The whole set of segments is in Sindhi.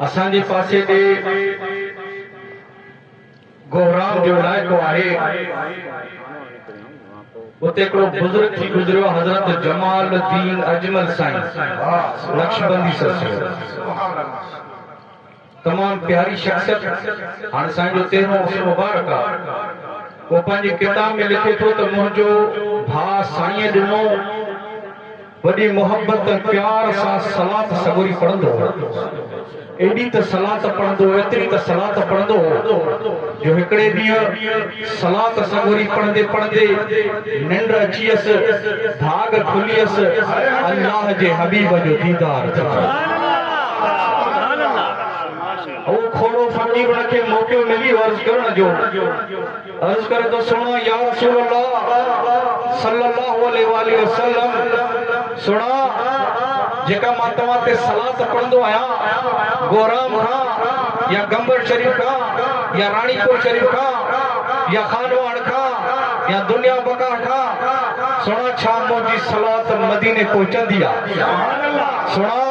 اسان جي پاسي تي گهرام جو علائقو آهي، اتي هڪڙو بزرگ ٿي گذريو حضرت جمال الدين اجمل سائين نقشبندي سلسلو تمام پياري شخصيت هاڻ سائين جو تيرهون عرس مبارڪ آ هو پنهنجي ڪتاب ۾ لکي ٿو ته منهنجو ڀاء سائينء ڏنو وڏي محبت ۽ پيار سان صلات سڳوري پڙهندو هو. ايڏي ته صلات پڙهندو هو، ايتري ته صلات پڙهندو هو جو هڪڙي ڏينهن صلات سڳوري پڙهندي پڙهندي ننڊ اچيس، ڀاڳ کليس، الله جي حبيب جو ديدار ٿيو. هو کهڙو فقير ان کي موقعو ملي عرض ڪرڻ جو. عرض ڪري ٿو سڻان يا رسول الله صلي الله عليه واله وسلم سڻان جيڪا مان توهان تي صلات پڙهندو آهيان گورام کان يا گمبر شريف کان يا راڻي پور شريف کان يا خانواڙ کان يا دنيا بقا کان سڻان ڇا منهنجي صلات مديني پهچندي آهي سڻان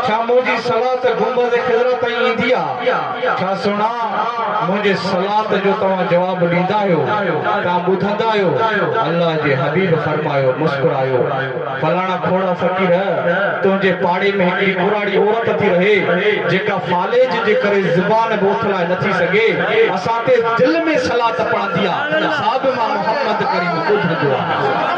ڇا منهنجي صلات گنبذ خضرا تائين ايندي آهي ڇا سھڻا، منھنجي صلات جو توھان جواب ڏيندا آھيو؟ توھان ٻڌندا آھيو؟ الله جي حبيب فرمايو، مسڪرايو، فلاڻا ڪھوڙا فقير، تنھنجي پاڙي ۾ ھڪڙي ڪراڙي عورت ٿي رھي، جيڪا فالج جي ڪري زبان به اٿلائي نٿي سگھي، اسان تي دل ۾ صلات پڙھندي آ، سا به مان محمد ڪريم ٻڌندو آھيان.